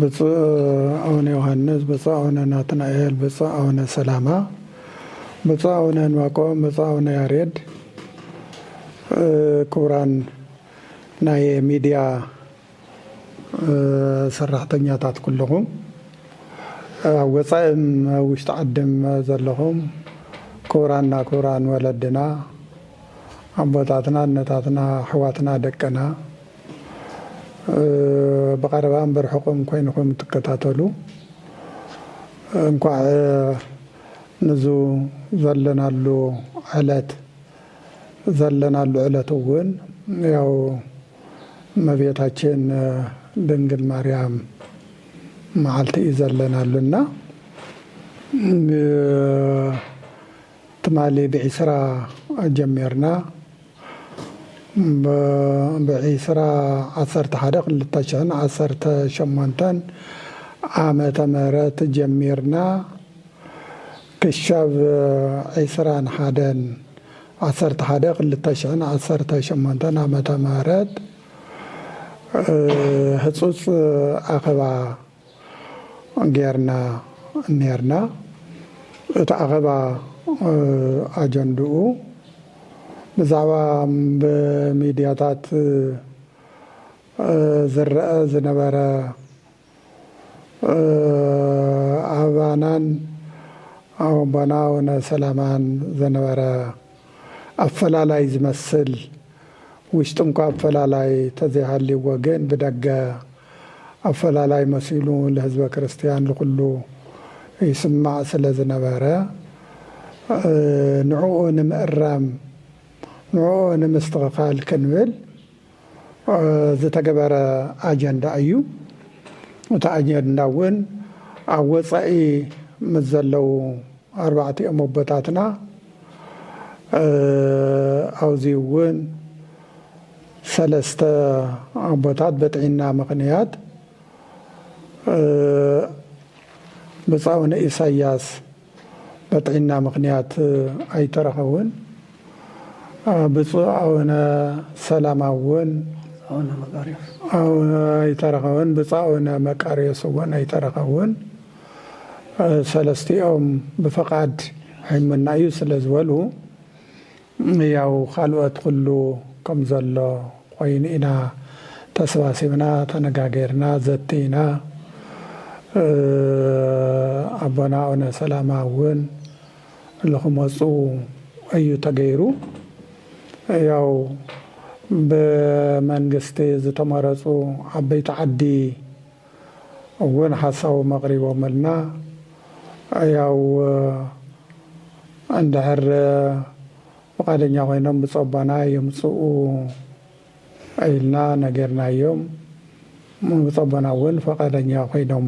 ብፁዕ ኣቡነ ዮሓንስ፣ ብፁዕ ኣቡነ ናትናኤል፣ ብፁዕ ኣቡነ ሰላማ፣ ብፁዕ ኣቡነ ዕንባቆም፣ ብፁዕ ኣቡነ ያሬድ፣ ክቡራን ናይ ሚድያ ሰራሕተኛታት ኩልኹም፣ ኣብ ወፃኢን ኣብ ውሽጢ ዓድን ዘለኹም ክቡራንና ክቡራን ወለድና፣ ኣቦታትና፣ ኣነታትና፣ ኣሕዋትና፣ ደቅና፣ ብቐረባ እምበር ርሑቕም ኮይንኹም እትከታተሉ እንኳዕ ንዙ ዘለናሉ ዕለት ዘለናሉ ዕለት እውን ያው እመቤታችን ድንግል ማርያም መዓልቲ እዩ ዘለናሉ እና ትማሊ ብ ዕስራ ጀሚርና ብ ዕስራ ዓሰርተ ሓደ ክልተ ሽሕን ዓሰርተ ሸሞንተን ዓመተ ምህረት ጀሚርና ክሻብ ዕስራን ሓደን ዓሰርተ ሓደ ክልተ ሽሕን ዓሰርተ ሸሞንተን ዓመተ ምህረት ህጹጽ ኣኸባ ጌርና ኔርና። እቲ ኣኼባ ኣጀንድኡ ብዛዕባ ብሚድያታት ዝረኣ ዝነበረ ኣባናን ኣቦና ኣውነ ሰላማን ዝነበረ ኣፈላላይ ዝመስል ውሽጢ'ኳ ኣፈላላይ ተዘይሃልይዎ ግን ብደገ ኣፈላላይ መሲሉ ልህዝበ ክርስትያን ልኹሉ ይስማዕ ስለ ዝነበረ ንዕኡ ንምእራም ንዕኡ ንምስትኽኻል ክንብል ዝተገበረ ኣጀንዳ እዩ። እቲ ኣጀንዳ እውን ኣብ ወፃኢ ምስ ዘለዉ ኣርባዕቲኦም ኣቦታትና ኣብዚ እውን ሰለስተ ኣቦታት በጥዒና ምኽንያት ብፃኡ ንኢሳያስ በጥዒና ምኽንያት ኣይተረኸቡን ብፁዕ ኣውነ ሰላማ እውን ኣይተረኸቡን ብፁዕ ኣውነ መቃርዮስ እውን ኣይተረኸቡን ሰለስቲኦም ብፈቓድ ሕምና እዩ ስለ ዝበሉ ያው ካልኦት ኩሉ ከም ዘሎ ኮይኑ ኢና ተሰባሲብና ተነጋጊርና ዘቲና ኣቦና ኣውነ ሰላማ ውን ልክመጹ ኣዩ ተገይሩ ያው ብመንግስቲ ዝተመረጹ ዓበይቲ ዓዲ እውን ሓሳቦም ኣቕሪቦምልና። ያው እንድሕር ፍቓደኛ ኮይኖም ብፆባና ይምፅኡ ኢልና ነጊርናዮም። ብፆባና እውን ፍቓደኛ ኮይኖም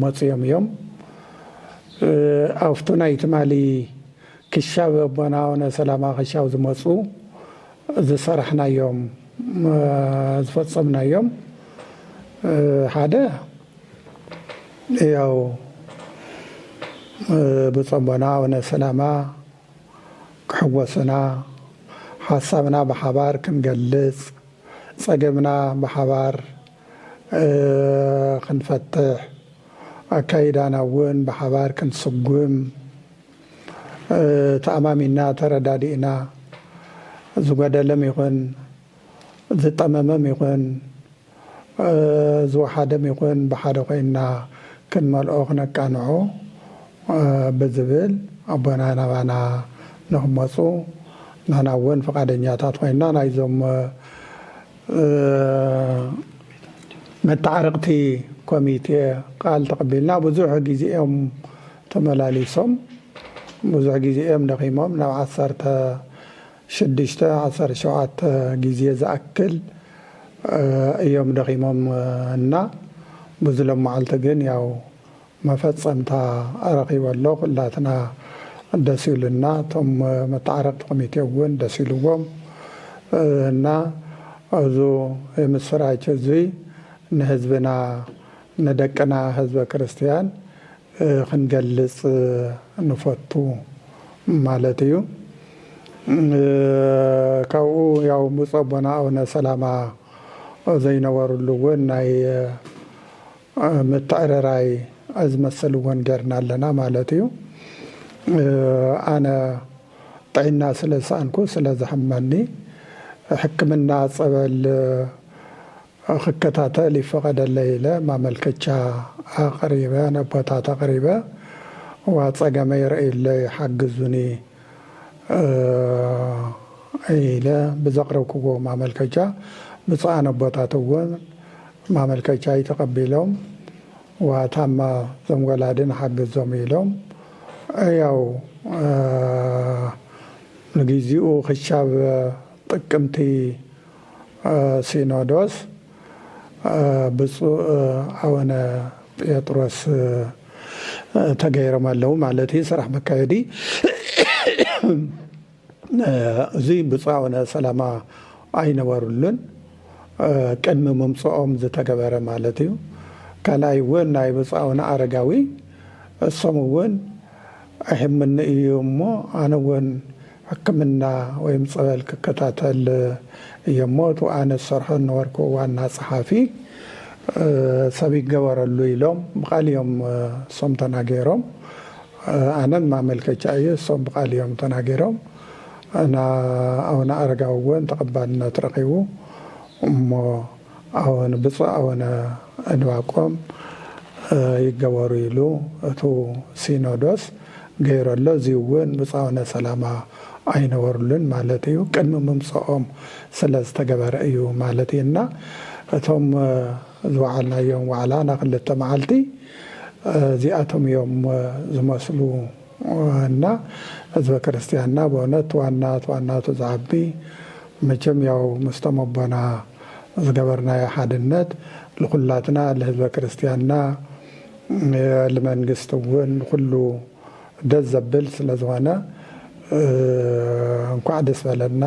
መፂኦም እዮም። ኣብቲ ናይ ትማሊ ክሻብ ኣቦና ኣውነ ሰላማ ክሻብ ዝመፁ ዝሰራሕናዮም ዝፈፀምናዮም ሓደ ያው ብፀሞና ኣውነ ሰላማ ክሕጎሱና ሓሳብና ብሓባር ክንገልፅ ፀገምና ብሓባር ክንፈትሕ ኣካይዳና እውን ብሓባር ክንስጉም ተኣማሚንና ተረዳዲእና ዝጎደለም ይኹን ዝጠመመም ይኹን ዝወሓደም ይኹን ብሓደ ኮይንና ክንመልኦ ክነቃንዖ ብዝብል ኣቦና ናባና ንክመፁ ንሕና እውን ፍቓደኛታት ኮይንና ናይዞም መተዓረቕቲ ኮሚቴ ቃል ተቐቢልና ብዙሕ ግዜ እዮም ተመላሊሶም ብዙሕ ግዜ እዮም ደኺሞም ናብ ዓሰርተ ሽዱሽተ ዓሰርተ ሸውዓተ ግዜ ዝኣክል እዮም ደኺሞም እና ብዙ ሎማዓልቲ ግን ያው መፈፀምታ ረኺበ ኣሎ ኩላትና ደስ ኢሉና እቶም መታዓረቅቲ ኮሚቴ እውን ደስ ኢልዎም እና እዙ የምስራች እዙይ ንህዝብና ንደቅና ህዝበ ክርስትያን ክንገልጽ ንፈቱ ማለት እዩ። ካብኡ ያው ብፁዕ ኣቦና ኣቡነ ሰላማ ዘይነበርሉ እውን ናይ ምትዕርራይ ዝመስል እውን ጌርና ኣለና ማለት እዩ። ኣነ ጥዒና ስለ ዝሰኣንኩ ስለ ዘሕመኒ ሕክምና ጸበል ክከታተል ይፈቐደለይ ኢለ ማመልከቻ ኣቕሪበ ነቦታት ኣቕሪበ እዋ ፀገመይ ረእዩለይ ሓግዙኒ ኢለ ብዘቕረብክዎ ማመልከቻ ብፁዓን ኣቦታት እውን ማመልከቻይ ተቐቢሎም እዋ ታማ እዞም ወላዲ ንሓግዞም ኢሎም ያው ንጊዚኡ ክሻብ ጥቅምቲ ሲኖዶስ ብፁእ ኣወነ ጴጥሮስ ተገይሮም ኣለዉ ማለት እዩ ስራሕ መካየዲ እዚ ብፁእ ኣወነ ሰላማ ኣይነበሩሉን ቅድሚ ምምፅኦም ዝተገበረ ማለት እዩ ካልኣይ እውን ናይ ብፁእ ኣወነ ኣረጋዊ እሶም እውን ኣይሕመኒ እዩ እሞ ኣነ እውን ሕክምና ወይም ፀበል ክከታተል እየ እሞ እቲ ኣነ ዝሰርሖ ዝነበርኩ ዋና ፀሓፊ ሰብ ይገበረሉ ኢሎም ብቃል እዮም እሶም ተናገሮም ኣነን ማመልከቻ እየ እሶም ብቃል እዮም ተናገሮም እና ኣውነ ኣረጋዊ እውን ተቀባልነት ረኪቡ እሞ ኣወን ብፁዕ ኣወነ እንባቆም ይገበሩ ኢሉ እቱ ሲኖዶስ ገይሩ ኣሎ እዙይ እውን ብፁዕ ኣወነ ሰላማ ኣይነበሩሉን ማለት እዩ ቅድሚ ምምፀኦም ስለ ዝተገበረ እዩ ማለት እዩ እና እቶም ዝወዓልናዮም ዋዕላ ናክልተ መዓልቲ እዚኣቶም እዮም ዝመስሉ እና ህዝበ ክርስትያንና በእውነት ዋናት ዋናቱ ዝዓቢ መቸም ያው ምስቶም ኣቦና ዝገበርናዮ ሓድነት ልኹላትና ልህዝበ ክርስትያንና ልመንግስቲ እውን ንኹሉ ደስ ዘብል ስለዝኾነ እንኳዕ ደስ በለና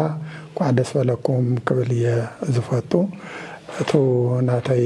እንኳዕ ደስ በለኩም ክብል እየ ዝፈቱ እቱ ናተይ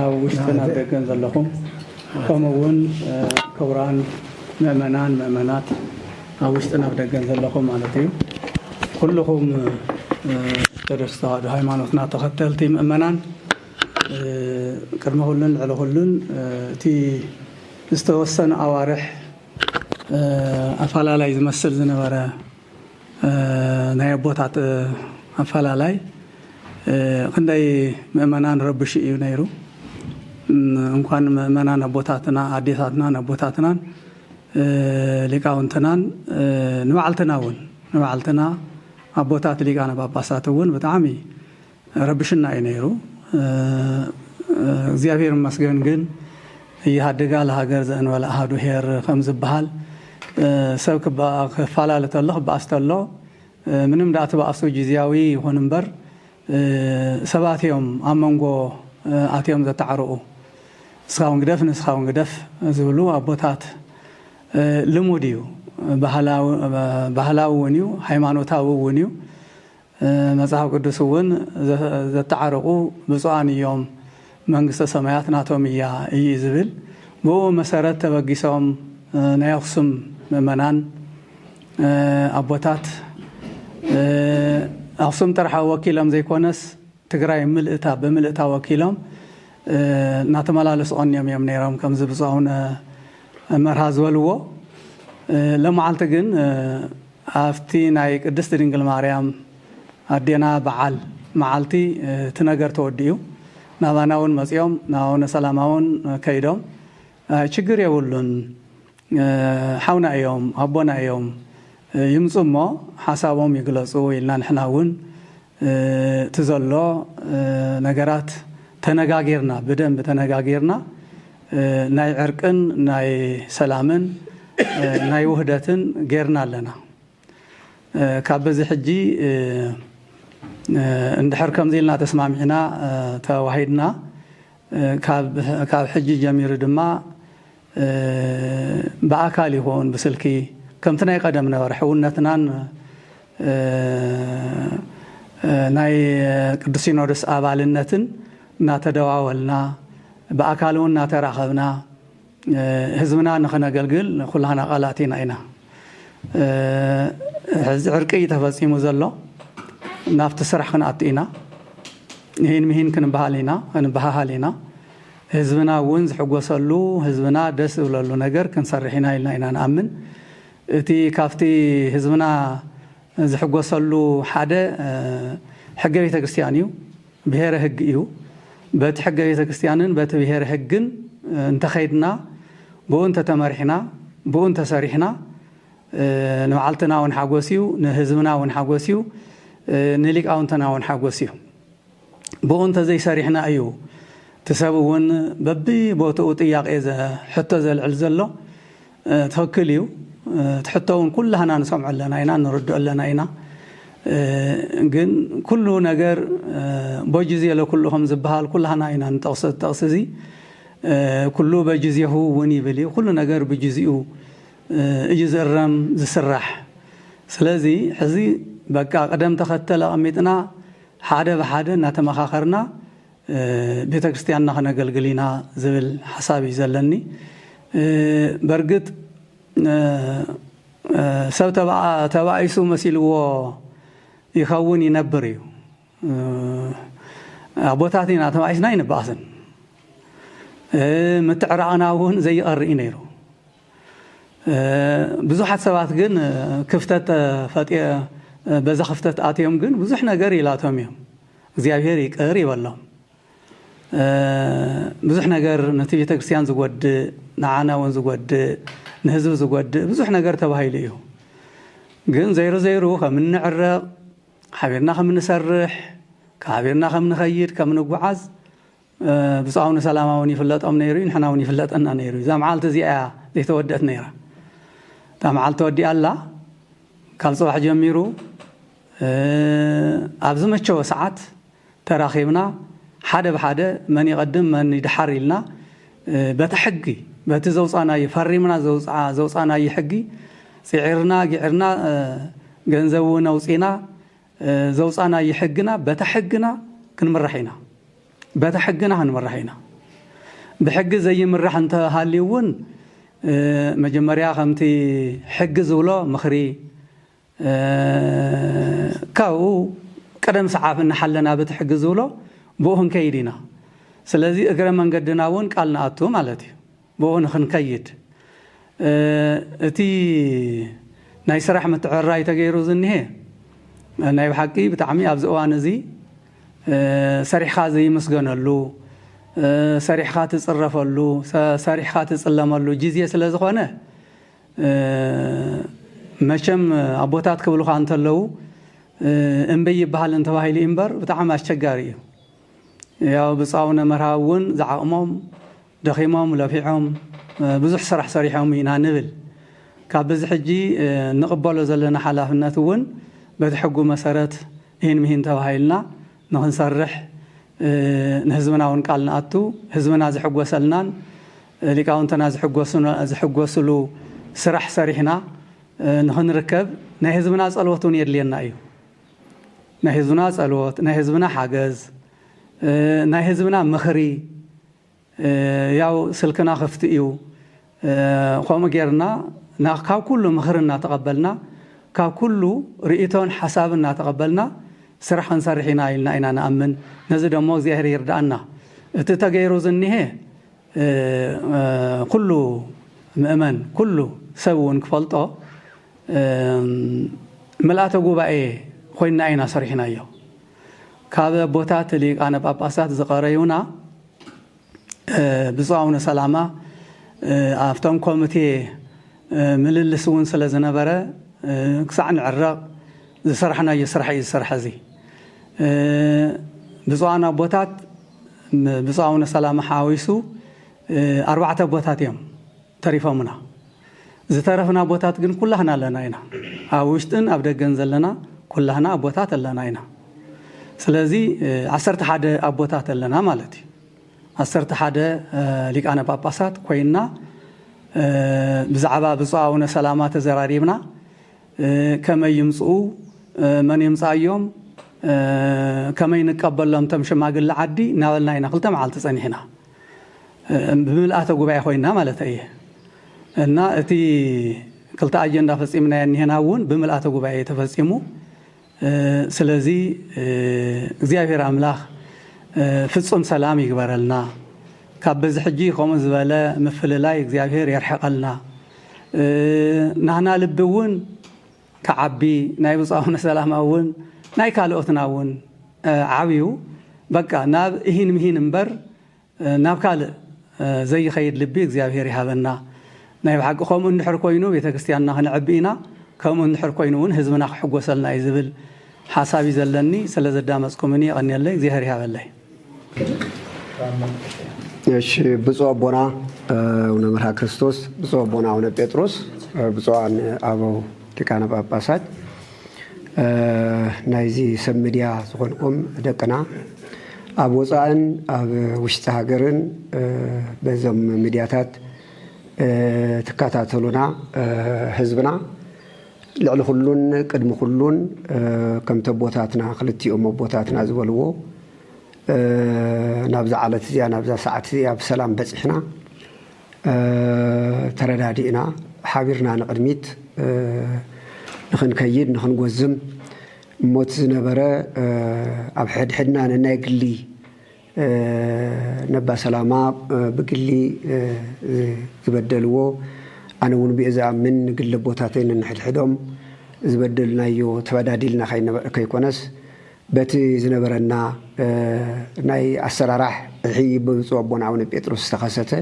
ኣብ ውሽጥን ኣብ ደገን ዘለኹም ከምኡ እውን ክቡራን ምእመናን ምእመናት ኣብ ውሽጥን ኣብ ደገን ዘለኹም ማለት እዩ ኩልኹም ኦርቶዶክስ ተዋህዶ ሃይማኖትና ተኸተልቲ ምእመናን ቅድሚ ኩሉን ልዕሊ ኩሉን እቲ ዝተወሰነ ኣዋርሕ ኣፈላላይ ዝመስል ዝነበረ ናይ ኣቦታት ኣፈላላይ ክንደይ ምእመናን ረብሹ እዩ ነይሩ። እንኳን ምእመናን ኣቦታትና ኣዴታትናን ኣቦታትናን ሊቃውንትናን ንባዕልትና እውን ንባዕልትና ኣቦታት ሊቃነ ጳጳሳት እውን ብጣዕሚ ረብሽና እዩ ነይሩ እግዚኣብሔር ይመስገን ግን እይሃድጋ ለሃገር ዘእንበለ ኣሃዱ ሄር ከምዝበሃል ሰብ ክፋላለ ተሎ ክበኣስ ተሎ ምንም ደኣ ትበኣሱ ጊዚያዊ ይኹን እምበር ሰባት እዮም ኣብ መንጎ ኣትዮም ዘታዕርቁ ንስኻ ውን ግደፍ ንስኻ ውን ግደፍ ዝብሉ ኣቦታት ልሙድ እዩ ባህላዊ ውን እዩ ሃይማኖታዊ ውን እዩ መጽሓፍ ቅዱስ እውን ዘተዓርቁ ብፁዓን እዮም መንግስተ ሰማያት ናቶም እያ እዪ ዝብል ብእኡ መሰረት ተበጊሶም ናይ ኣክሱም ምእመናን ኣቦታት ኣክሱም ጥራሕ ወኪሎም ዘይኮነስ ትግራይ ምልእታ ብምልእታ ወኪሎም እናተመላለሱ ቀንዮም እዮም ነይሮም ከምዚ ብፁዕ ኣውነ መርሃ ዝበልዎ ለማዓልቲ ግን ኣብቲ ናይ ቅድስት ድንግል ማርያም ኣዴና በዓል መዓልቲ እቲ ነገር ተወዲኡ ናባና ውን መጺኦም ናብ ኣቡነ ሰላማ ውን ከይዶም ኣይ ችግር የብሉን ሓውና እዮም ኣቦና እዮም ይምጹ እሞ ሓሳቦም ይግለጹ ኢልና ንሕና ውን እቲ ዘሎ ነገራት ተነጋጊርና ብደንቢ ተነጋጊርና ናይ ዕርቅን ናይ ሰላምን ናይ ውህደትን ጌርና ኣለና ካብ በዚ ሕጂ እንድሕር ከምዚ ኢልና ተስማሚዕና ተዋሂድና ካብ ሕጂ ጀሚሩ ድማ ብኣካል ይኹን ብስልኪ ከምቲ ናይ ቐደም ነበረ ሕውነትናን ናይ ቅዱስ ሲኖዶስ ኣባልነትን እናተደዋወልና ብኣካል እውን እናተራኸብና ህዝብና ንኽነገልግል ኩላህና ቃላት ኢና ኢና ሕዚ ዕርቂ እዩ ተፈፂሙ ዘሎ ናብቲ ስራሕ ክንኣቱ ኢና ይህን ምሂን ክንበሃል ኢና ክንበሃሃል ኢና ህዝብና እውን ዝሕጎሰሉ፣ ህዝብና ደስ ዝብለሉ ነገር ክንሰርሕ ኢና ኢልና ኢና ንኣምን። እቲ ካብቲ ህዝብና ዝሕጎሰሉ ሓደ ሕገ ቤተ ክርስቲያን እዩ፣ ብሔረ ህግ እዩ። በቲ ሕገ ቤተ ክርስቲያንን በቲ ብሔረ ህግን እንተኸይድና፣ ብኡ እንተተመሪሕና፣ ብኡ እንተሰሪሕና ንባዕልትና እውን ሓጎስ እዩ፣ ንህዝብና እውን ሓጎስ እዩ፣ ንሊቃውንትና እውን ሓጎስ እዩ። ብኡ እንተዘይሰሪሕና እዩ እቲ ሰብ እውን በቢ ቦትኡ ጥያቄ ሕቶ ዘልዕል ዘሎ ትክክል እዩ እቲ ሕቶ እውን ኩላህና ንሰምዖ ኣለና ኢና ንርድኦ ኣለና ኢና ግን ኩሉ ነገር ቦጅዜ ለኩሉ ከም ዝበሃል ኩላህና ኢና ንጠቕሶ ዝጠቕሲ እዚ ኩሉ በጅዜሁ እውን ይብል እዩ ኩሉ ነገር ብጅዜኡ እዩ ዝእረም ዝስራሕ ስለዚ ሕዚ በቃ ቅደም ተኸተል ኣቐሚጥና ሓደ ብሓደ እናተመኻኸርና ቤተ ክርስቲያንና ክነገልግል ኢና ዝብል ሓሳብ እዩ ዘለኒ። በርግጥ ሰብ ተባኢሱ መሲልዎ ይኸውን ይነብር እዩ። ኣቦታት ኢና ተባኢስና ኣይንበኣስን። ምትዕራቕና እውን ዘይቐሪ እዩ ነይሩ። ብዙሓት ሰባት ግን ክፍተት ተፈጢ በዛ ክፍተት ኣትዮም ግን ብዙሕ ነገር ይላቶም እዮም እግዚኣብሔር ይቅር ይበሎም ብዙሕ ነገር ነቲ ቤተ ክርስቲያን ዝጎድእ ንዓና እውን ዝጎድእ ንህዝቢ ዝጎድእ ብዙሕ ነገር ተባሂሉ እዩ ግን ዘይሩ ዘይሩ ከም እንዕረቕ ሓቢርና ከም እንሰርሕ ሓቢርና ከም ንኸይድ ከም ንጓዓዝ ብጹዕ ኣውነ ሰላማ ውን ይፍለጦም ነይሩ ዩ ንሕና ውን ይፍለጠና ነይሩ ዩ እዛ መዓልቲ እዚኣ እያ ዘይተወድእት ነይራ እታ መዓልቲ ተወዲኣ ኣላ ካብ ጽባሕ ጀሚሩ ኣብ ዝመቸወ ሰዓት ተራኺብና ሓደ ብሓደ መን ይቐድም መን ይድሓር ኢልና በቲ ሕጊ በቲ ዘውጻናዩ ፈሪምና ዘውጻናዩ ሕጊ ጽዒርና ጊዕርና ገንዘብ ውን ኣውጺና ዘውፃእናዪ ሕግና በታ ሕግና ክንምራሕ ኢና በታ ሕግና ክንምራሕ ኢና ብሕጊ ዘይምራሕ እንተሃልዩ እውን መጀመርያ ከምቲ ሕጊ ዝብሎ ምኽሪ ካብኡ ቅደም ሰዓብ እናሓለና በቲ ሕጊ ዝብሎ ብኡ ክንከይድ ኢና ስለዚ እግረ መንገድና እውን ቃል ንኣቱ ማለት እዩ ብኡ ንክንከይድ እቲ ናይ ስራሕ ምትዕርራይ ተገይሩ ዝኒሀ ናይ ብሓቂ ብጣዕሚ ኣብዚ እዋን እዚ ሰሪሕኻ ዘይምስገነሉ፣ ሰሪሕኻ ትፅረፈሉ፣ ሰሪሕኻ ትፅለመሉ ጊዜ ስለዝኾነ መቸም ኣቦታት ክብሉኻ እንተለዉ እምቢ ኣይበሃልን ተባሂሉ እዩ እምበር ብጣዕሚ ኣስቸጋሪ እዩ። ያው ብፁዕ ኣቡነ መርሃዊ እውን ዝዓቕሞም ደኺሞም ለፊዖም ብዙሕ ስራሕ ሰሪሖም ኢና ንብል። ካብ በዚ ሕጂ እንቕበሎ ዘለና ሓላፍነት እውን በቲ ሕጉ መሰረት ኢሂን ምሂን ተባሂልና ንኽንሰርሕ ንህዝብና እውን ቃል ንኣቱ። ህዝብና ዝሕጎሰልናን ሊቃውንትና ዝሕጎስሉ ስራሕ ሰሪሕና ንኽንርከብ ናይ ህዝብና ፀሎት እውን የድልየና እዩ። ናይ ህዝብና ፀሎት፣ ናይ ህዝብና ሓገዝ፣ ናይ ህዝብና ምኽሪ፣ ያው ስልክና ክፍቲ እዩ ኸምኡ ጌርና ካብ ኩሉ ምኽሪ እናተቐበልና ካብ ኩሉ ርኢቶን ሓሳብን እናተቐበልና ስራሕ ክንሰርሕ ኢና ኢልና ኢና ንኣምን ነዚ ደሞ እግዚኣብሔር ይርድኣና እቲ ተገይሩ ዝኒሀ ኩሉ ምእመን ኩሉ ሰብ እውን ክፈልጦ ምልኣተ ጉባኤ ኾይንና ኢና ሰሪሕናዮ ካብ ኣቦታት ሊቃነ ጳጳሳት ዝቐረዩና ብፁዕ ኣቡነ ሰላማ ኣብቶም ኮሚቴ ምልልስ እውን ስለ ዝነበረ ክሳዕ ንዕረቕ ዝሰራሕናዮ ስራሕ እዩ ዝስራሕ እዚ ብፁዓን ኣቦታት ብፁዕ ኣቡነ ሰላማ ሓዊሱ ኣርባዕተ ኣቦታት እዮም ተሪፎምና ዝተረፍና ኣቦታት ግን ኩላህና ኣለና ኢና ኣብ ውሽጥን ኣብ ደገን ዘለና ኩላህና ኣቦታት ኣለና ኢና ስለዚ ዓሰርተ ሓደ ኣቦታት ኣለና ማለት እዩ ዓሰርተ ሓደ ሊቃነ ጳጳሳት ኮይንና ብዛዕባ ብፁዕ ኣቡነ ሰላማ ተዘራሪብና ከመይ ይምፅኡ መን የምፅኣዮም ከመይ ንቀበሎም ቶም ሽማግለ ዓዲ እናበልና ኢና ክልተ መዓልቲ ፀኒሕና ብምልኣተ ጉባኤ ኮይና ማለተይ እየ እና እቲ ክልተ ኣጀንዳ ፈፂምናዮ እኒሀና እውን ብምልኣተ ጉባኤ እዩ ተፈፂሙ ስለዚ እግዚኣብሔር ኣምላክ ፍፁም ሰላም ይግበረልና ካብ በዚ ሕጂ ከምኡ ዝበለ ምፍልላይ እግዚኣብሔር የርሕቀልና ናህና ልቢ እውን ክዓቢ ናይ ብጻውነ ሰላማ ውን ናይ ካልኦትና ውን ዓብዩ በቃ ናብ እሂን ምሂን እምበር ናብ ካልእ ዘይኸይድ ልቢ እግዚኣብሄር ይሃበና ናይ ብሓቂ ከምኡ እንድሕር ኮይኑ ቤተክርስቲያንና ክነዕቢ ኢና ከምኡ እንድሕር ኮይኑ ውን ህዝብና ክሕጎሰልና እዩ ዝብል ሓሳብ እዩ ዘለኒ ስለዘዳመጽኩምኒ የቐንየለይ እግዚኣብሄር ይሃበለይ። እሺ ብፁዕ ኣቦና አቡነ መርሃ ክርስቶስ፣ ብፁዕ ኣቦና አቡነ ጴጥሮስ፣ ብፁዓን ኣበው ሊቃነ ጳጳሳት፣ ናይዚ ሰብ ሚድያ ዝኾንኩም ደቅና ኣብ ወፃእን ኣብ ውሽጢ ሃገርን በዞም ሚድያታት ትከታተሉና ህዝብና ልዕሊ ኩሉን ቅድሚ ኩሉን ከምቲ ኣቦታትና ክልቲኦም ኣቦታትና ዝበልዎ ናብዛ ዓለት እዚኣ ናብዛ ሰዓት እዚኣ ብሰላም በጺሕና ተረዳዲእና ሓቢርና ንቕድሚት ንኽንከይድ ንኽንጎዝም እሞቲ ዝነበረ ኣብ ሕድሕድና ነናይ ግሊ ነባ ሰላማ ብግሊ ዝበደልዎ ኣነ ውን ብኡ ዝኣምን ንግሊ ኣቦታተይ ነንሕድሕዶም ዝበደልናዮ ተበዳዲልና ከይኮነስ በቲ ዝነበረና ናይ ኣሰራራሕ እሒ ብብፁእ ኣቦና ኣቡነ ጴጥሮስ ዝተኸሰተ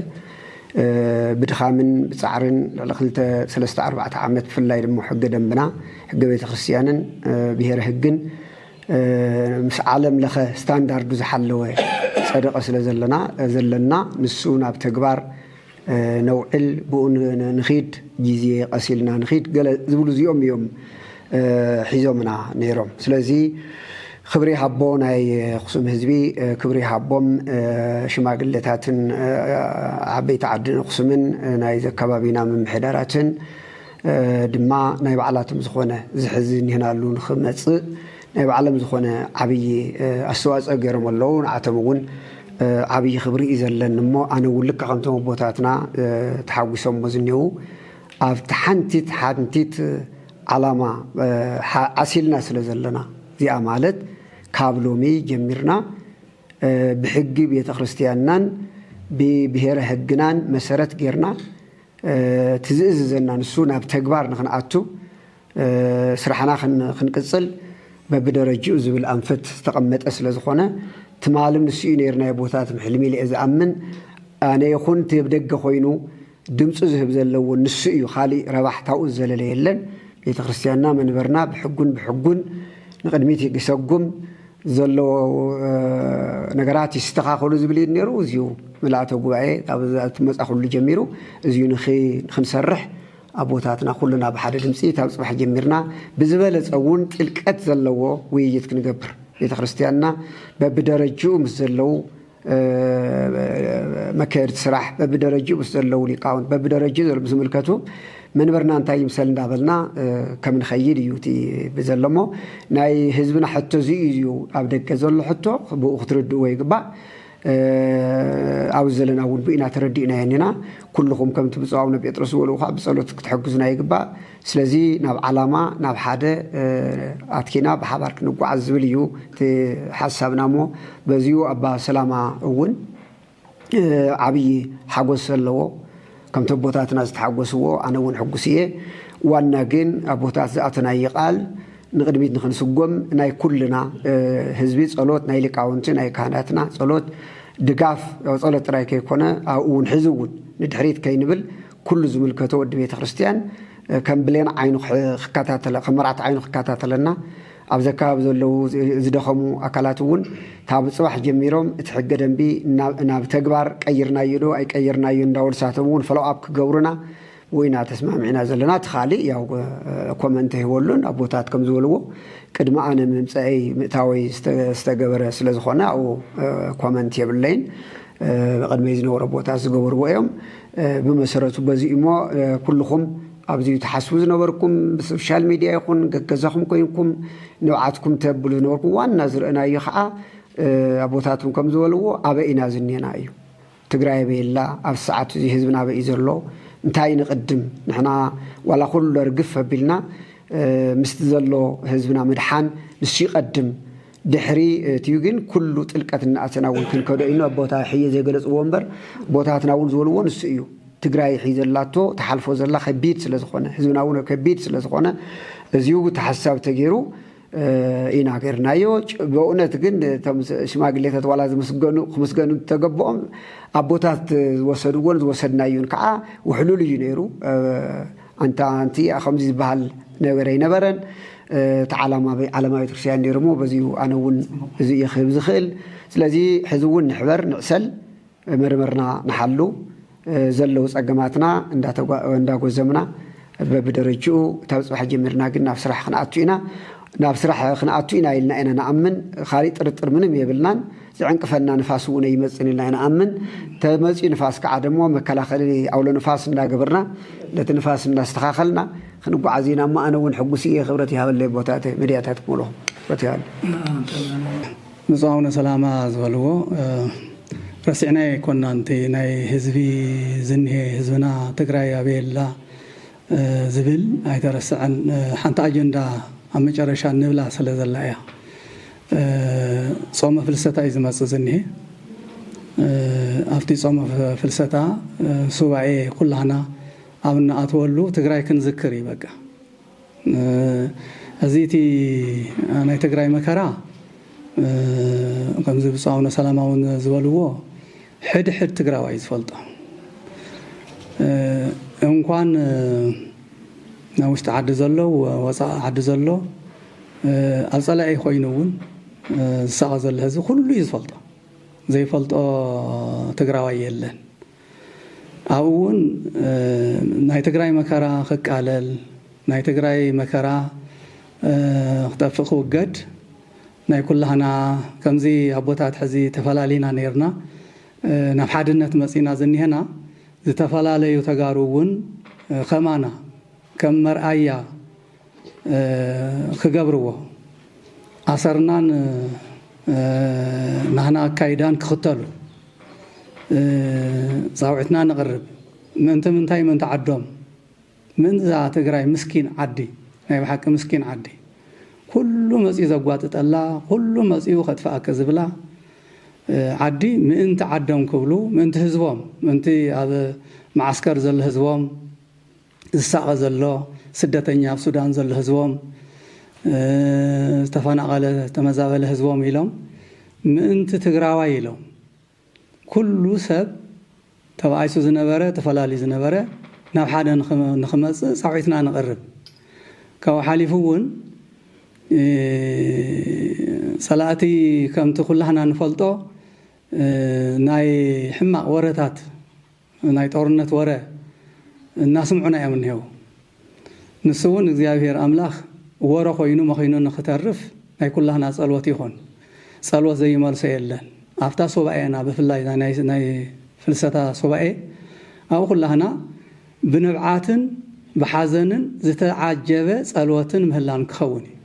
ብድኻምን ብፃዕርን ልዕሊ ክልተ ሰለስተ ኣርባዕተ ዓመት ብፍላይ ድማ ሕገ ደንብና ሕገ ቤተክርስትያንን ብሄረ ህግን ምስ ዓለም ለኸ ስታንዳርዱ ዝሓለወ ፀደቐ ስለ ዘለና ዘለና ንሱ ናብ ተግባር ነውዕል ብኡ ንኺድ ግዜ ቐስ ኢልና ንኺድ ገለ ዝብሉ እዚኦም እዮም ሒዞምና ነይሮም ስለዚ ክብሪ ይሃቦ ናይ ኣኽሱም ህዝቢ ክብሪ ይሃቦም ሽማግለታትን ዓበይቲ ዓድን ኣኽሱምን ናይዚ ኣከባቢና ምምሕዳራትን ድማ ናይ ባዕላቶም ዝኾነ እዚ ሕዚ እኒሀናሉ ንኽመፅእ ናይ ባዕሎም ዝኾነ ዓብዪ ኣስተዋፅኦ ገይሮም ኣለዉ። ንዓቶም እውን ዓብዪ ክብሪ እዩ ዘለኒ እሞ ኣነ እውን ልክዕ ከምቶም ኣቦታትና ተሓጒሶሞ ዝኔዉ ኣብቲ ሓንቲት ሓንቲት ዓላማ ዓሲልና ስለ ዘለና እዚኣ ማለት ካብ ሎሚ ጀሚርና ብሕጊ ቤተ ክርስቲያንናን ብብሔረ ሕግናን መሰረት ጌርና እቲ ዝእዝዘና ንሱ ናብ ተግባር ንክንኣቱ ስራሕና ክንቅፅል በብደረጅኡ ዝብል ኣንፈት ዝተቐመጠ ስለዝኾነ ትማሊ ንሱ ዩ ነይርናዮ ቦታ ትም ሕልሚ ኢለ እየ ዝኣምን። ኣነ ይኹን እቲ ኣብ ደገ ኮይኑ ድምፁ ዝህብ ዘሎ ውን ንሱ እዩ ካሊእ ረባሕታኡ ዝዘለለ የለን። ቤተክርስትያንና መንበርና ብሕጉን ብሕጉን ንቕድሚት ይሰጉም። ዘለዎ ነገራት ይስተኻኸሉ ዝብል እዩ ነይሩ። እዚዩ ምልኣተ ጉባኤ ካብ መጻኹሉ ጀሚሩ እዚዩ ንክንሰርሕ ኣቦታትና ኩልና ብሓደ ድምፂ ካብ ፅባሕ ጀሚርና ብዝበለፀ እውን ጥልቀት ዘለዎ ውይይት ክንገብር ቤተ ክርስቲያንና በብደረጅኡ ምስ ዘለው መካየድቲ ስራሕ በብደረጅኡ ምስ ዘለዉ ሊቃውንት በብደረጅኡ ዘለዉ ዝምልከቱ መንበርና እንታይ ይምሰል እንዳበልና ከም ንኸይድ እዩ እቲ ብዘሎ እሞ ናይ ህዝብና ሕቶ እዚ እዩ ኣብ ደገ ዘሎ ሕቶ ብኡ ክትርድእዎ ይግባእ ኣብ ዘለና እውን ብኢና ተረዲእና የኒና ኩልኹም ከምቲ ብፁዕ ኣቡነ ጴጥሮስ ዝበልዎ ከዓ ብጸሎት ክትሕግዙና ይግባእ ስለዚ ናብ ዓላማ ናብ ሓደ ኣትኪና ብሓባር ክንጓዓዝ ዝብል እዩ እቲ ሓሳብና እሞ በዚኡ ኣባ ሰላማ እውን ዓብዪ ሓጎስ ኣለዎ። ከምቲ ኣቦታትና ዝተሓጎስዎ ኣነ እውን ሕጉስ እየ። ዋና ግን ኣቦታት ዝኣተናዪ ቃል ንቕድሚት ንኽንስጎም ናይ ኩልና ህዝቢ ጸሎት ናይ ሊቃውንቲ ናይ ካህናትና ጸሎት ድጋፍ ጸሎት ጥራይ ከይኮነ ኣብኡ እውን ሕዚ እውን ንድሕሪት ከይንብል ኩሉ ዝምልከቶ ወዲ ቤተ ክርስቲያን ከም ብሌን ዓይኑ ክከታተለ ከም መርዓት ዓይኑ ክከታተለና ኣብዚ ኣካባቢ ዘለዉ ዝደኸሙ ኣካላት እውን ካብ ፅባሕ ጀሚሮም እቲ ሕገ ደንቢ ናብ ተግባር ቀይርናዮ ዶ ኣይቀይርናዮ እንዳበሉ ንሳቶም እውን ፈለው ኣፕ ክገብሩና ወይና ተስማሚዕና ዘለና እቲ ካልእ ያው ኮመንት ሂበሉን ኣቦታት ከም ዝበልዎ ቅድሚ ኣነ ምምፀአይ ምእታወይ ዝተገበረ ስለ ዝኾነ ኣብኡ ኮመንት የብለይን ቅድመይ ዝነበሩ ኣቦታት ዝገበርዎ እዮም ብመሰረቱ በዚ እዩሞ ኩሉኹም ኣብዚ ትሓስቡ ዝነበርኩም ብሶሻል ሚድያ ይኹን ገገዛኹም ኮይንኩም ንብዓትኩም ተብሉ ዝነበርኩም ዋና ዝርእናዮ ከዓ ኣቦታትም ከም ዝበልዎ ኣበይ ኢና ዝኔና እዩ ትግራይ ኣበይ ኣላ ኣብ ሰዓት እዚ ህዝብና ኣበይ እዩ ዘሎ እንታይ ንቕድም ንሕና ዋላ ኩሎ ርግፍ ኣቢልና ምስቲ ዘሎ ህዝብና ምድሓን ንሱ ይቐድም ድሕሪ እትዩ ግን ኩሉ ጥልቀት እናኣተና እውን ክንከዶ ኢና። ኣብ ቦታ ሕየ ዘይገለፅዎ እምበር ቦታትና እውን ዝበልዎ ንሱ እዩ። ትግራይ ሕይ ዘላቶ ተሓልፎ ዘላ ከቢድ ስለ ዝኾነ ህዝብና እውን ከቢድ ስለ ዝኾነ እዚዩ ተሓሳብ ተገይሩ ኢና ገርናዮ በእውነት ግን እቶም ሽማግሌታት ዋላ ዝምስገኑ ክምስገኑ ተገብኦም ኣቦታት ዝወሰድዎን ዝወሰድናዩን ከዓ ውሕሉል እዩ ነይሩ ኣንታ ኣንቲኣ ከምዚ ዝበሃል ነገር ኣይነበረን፣ እቲ ዓላማ ዓለማዊ ቤተክርስትያን ነይሩ እሞ በዚኡ ኣነ እውን እዚ እየ ክህብ ዝኽእል። ስለዚ ሕዚ እውን ንሕበር፣ ንዕሰል፣ መርምርና ንሓሉ፣ ዘለዉ ጸገማትና እንዳጎዘምና በብደረጅኡ ካብ ጽባሕ ጀሚርና ግን ናብ ስራሕ ክንኣቱ ኢና፣ ናብ ስራሕ ክንኣቱ ኢና ኢልና ኢና ንኣምን፣ ካልእ ጥርጥር ምንም የብልናን። ዝዕንቅፈና ንፋስ እውን ኣይመፅን ኢልና ኢና ንኣምን። ተመፅዩ ንፋስ ከዓ ደሞ መከላኸሊ ኣውሎ ንፋስ እንዳገበርና ነቲ ንፋስ እንዳስተኻኸልና ክንጓዓዝ ኢና እሞ ኣነ እውን ሕጉስ እየ ክብረት ይሃበለይ ኣቦታተይ መድያታት ክመልኹ ክብረት ይሃበለይ። ብፁዕ ኣቡነ ሰላማ ዝበልዎ ረሲዕናዮ ኣይኮናን እቲ ናይ ህዝቢ ዝኒሀ ህዝብና ትግራይ ኣበይ ኣላ ዝብል ኣይተረሰዐን ሓንቲ ኣጀንዳ ኣብ መጨረሻ ንብላ ስለ ዘላ እያ ጾመ ፍልሰታ እዩ ዝመጽእ ዝኒሀ። ኣብቲ ጾመ ፍልሰታ ሱባኤ ኩላህና ኣብ እንኣትወሉ ትግራይ ክንዝክር እዩ በቃ። እዚ እቲ ናይ ትግራይ መከራ ከምዚ ብፁዕ ኣቡነ ሰላማ እውን ዝበልዎ ሕድ ሕድ ትግራዋይ ዝፈልጦ እንኳን ናብ ውሽጢ ዓዲ ዘሎ ወፃኢ ዓዲ ዘሎ ኣብ ፀላኢ ኮይኑ እውን ዝሳቐ ዘሎ ህዝቢ ኩሉ እዩ ዝፈልጦ ዘይፈልጦ ትግራዋይ የለን ኣብኡ እውን ናይ ትግራይ መከራ ክቃለል ናይ ትግራይ መከራ ክጠፍእ ክውገድ ናይ ኩላህና ከምዚ ኣቦታት ሕዚ ተፈላሊና ነይርና ናብ ሓድነት መጺና ዝኒሀና ዝተፈላለዩ ተጋሩ እውን ከማና ከም መርኣያ ክገብርዎ ኣሰርናን ናህና ኣካይዳን ክኽተሉ ጻውዒትና ነቕርብ ምእንቲ ምንታይ ምእንቲ ዓዶም መን እዛ ትግራይ ምስኪን ዓዲ ናይ ብሓቂ ምስኪን ዓዲ ኩሉ መፅዩ ዘጓጥጠላ ኩሉ መፅዩ ከጥፍኣኪ ዝብላ ዓዲ ምእንቲ ዓዶም ክብሉ ምእንቲ ህዝቦም ምእንቲ ኣብ መዓስከር ዘሎ ህዝቦም ዝሳቐ ዘሎ ስደተኛ ኣብ ሱዳን ዘሎ ህዝቦም ዝተፈናቐለ ዝተመዛበለ ህዝቦም ኢሎም ምእንቲ ትግራዋይ ኢሎም ኩሉ ሰብ ተባኢሱ ዝነበረ ተፈላልዩ ዝነበረ ናብ ሓደ ንክመፅእ ፃዊዕትና ነቕርብ። ካብኡ ሓሊፉ እውን ፀላእቲ ከምቲ ኩላህና ንፈልጦ ናይ ሕማቕ ወረታት፣ ናይ ጦርነት ወረ እናስምዑና እዮም እኒሀው። ንሱ እውን እግዚኣብሄር ኣምላኽ ወረ ኮይኑ መኺኑ ንኽተርፍ ናይ ኩላህና ፀሎት ይኹን። ፀሎት ዘይመልሶ የለን። ኣብታ ሱባኤና ብፍላይ እዛ ናይ ናይ ፍልሰታ ሱባኤ ኣብኡ ኩላህና ብንብዓትን ብሓዘንን ዝተዓጀበ ፀሎትን ምህላን ክኸውን እዩ።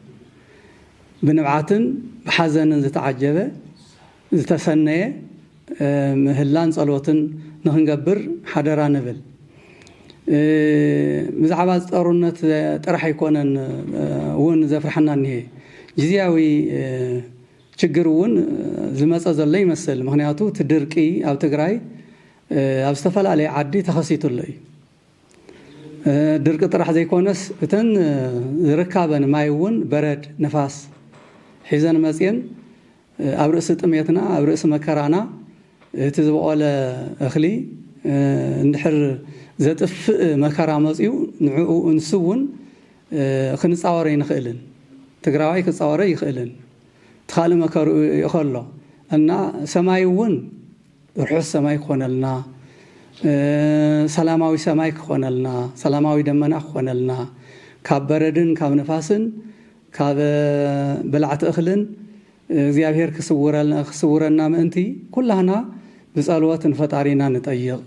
ብንብዓትን ብሓዘንን ዝተዓጀበ። ዝተሰነየ ምህላን ጸሎትን ንኽንገብር ሓደራ ንብል። ብዛዕባ እዚ ጦርነት ጥራሕ ኣይኮነን እውን ዘፍርሓና እኒሀ። ግዚያዊ ችግር እውን ዝመጸ ዘሎ ይመስል። ምኽንያቱ እቲ ድርቂ ኣብ ትግራይ ኣብ ዝተፈላለየ ዓዲ ተኸሲቱ ኣሎ እዩ። ድርቂ ጥራሕ ዘይኮነስ እተን ዝርካበን ማይ እውን በረድ፣ ንፋስ ሒዘን መጽየን ኣብ ርእሲ ጥሜትና ኣብ ርእሲ መከራና እቲ ዝበቖለ እኽሊ እንድሕር ዘጥፍእ መከራ መፅዩ ንዕኡ እንሱ እውን ክንፃወር ኣይንኽእልን ትግራዋይ ክፃወር ኣይኽእልን እቲ ኻልእ መከርኡ ይእኸሎ እና ሰማይ እውን ርሑስ ሰማይ ክኾነልና ሰላማዊ ሰማይ ክኾነልና ሰላማዊ ደመና ክኾነልና ካብ በረድን ካብ ንፋስን ካብ በላዕቲ እኽልን እግዚኣብሔር ክስውረና ምእንቲ ኩላህና ብጸሎት ንፈጣሪና ንጠይቅ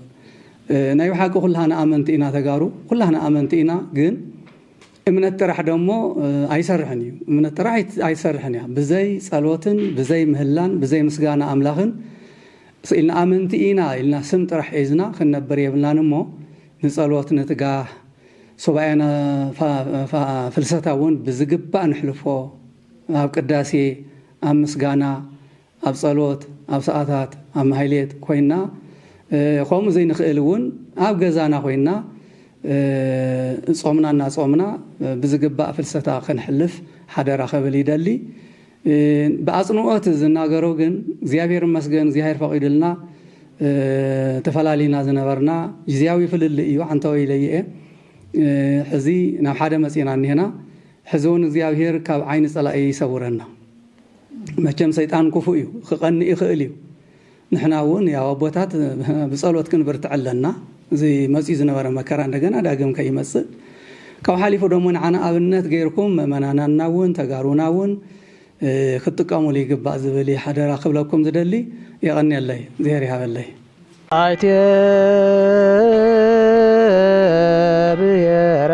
ናይ ብሓቂ ኩላህና ኣመንቲ ኢና ተጋሩ ኩላህና ኣመንቲ ኢና ግን እምነት ጥራሕ ደሞ ኣይሰርሕን እዩ እምነት ጥራሕ ኣይሰርሕን እያ ብዘይ ጸሎትን ብዘይ ምህላን ብዘይ ምስጋና ኣምላኽን ኢልና ኣመንቲ ኢና ኢልና ስም ጥራሕ ሒዝና ክንነብር የብልናን እሞ ንጸሎት ንትጋህ ሱባኤ ፍልሰታ እውን ብዝግባእ ነሕልፎ፣ ኣብ ቅዳሴ፣ ኣብ ምስጋና፣ ኣብ ጸሎት፣ ኣብ ሰዓታት፣ ኣብ ማህሌት ኮይና ከምኡ ዘይንኽእል እውን ኣብ ገዛና ኮይና ጾምና እናጾምና ብዝግባእ ፍልሰታ ከነሕልፍ ሓደራ ከብል ይደሊ። ብኣጽንኦት ዝናገሮ ግን እግዚኣብሔር ይመስገን እግዚኣብሔር ፈቂድልና ተፈላሊና ዝነበርና ግዚያዊ ፍልልይ እዩ ዓንተወይ ኢለዮ እየ ሕዚ ናብ ሓደ መጺና እኒሀና ሕዚ እውን እግዚኣብሔር ካብ ዓይኒ ጸላኢ ይሰውረና መቸም ሰይጣን ክፉእ እዩ ክቀንእ ይኽእል እዩ ንሕና እውን ያው ኣቦታት ብጸሎት ክንብርትዕ ኣለና እዚ መጺኡ ዝነበረ መከራ እንደገና ዳግም ከይመጽእ ካብኡ ሓሊፉ ደሞ ንዓና ኣብነት ገይርኩም ምእመናናና እውን ተጋሩና እውን ክትጥቀሙሉ ይግባእ ዝብል እየ ሓደራ ክብለኩም ዝደሊ የቐንየለይ እግዜር ይሃበለይ። ኣይተ ብሄራ